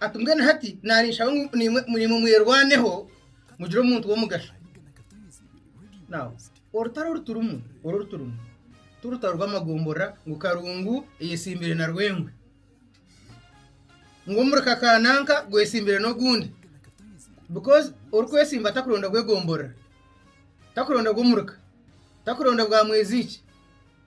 Ati, Mbwenu hati naaniinshaba ngu naimwe mwerwaneho mugire omuntu w'omugasho. Now, orutaro oru turimu, oru oru turimu, ti rutaro rw'amagomborora ngu Karungu eyetsimbire na Rwengwe, ngu omurika ka nanka gwetsimbire n'ogundi. Because orikwetsimba takuronda bw'egomborora, takuronda bw'omurika, takuronda bwa mwezi ki.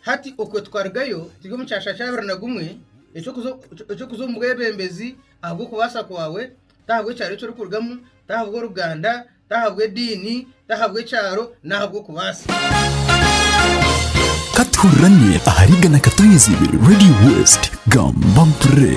Hati okwe tukarugayo turi omu kyasha kya abiri na gumwe eky'okuza omu bwebembezi ahabw'okubaasa kwawe, ti ahabw'ekyaro eki orikurugamu, ti ahabw'oruganda, ti ahabw'ediini, ti ahabw'ekyaro, ni ahabw'okubaasa. Ka tuhurirane ahari Igana Katonyeza Ibiri Radio West. Gamba mpurire!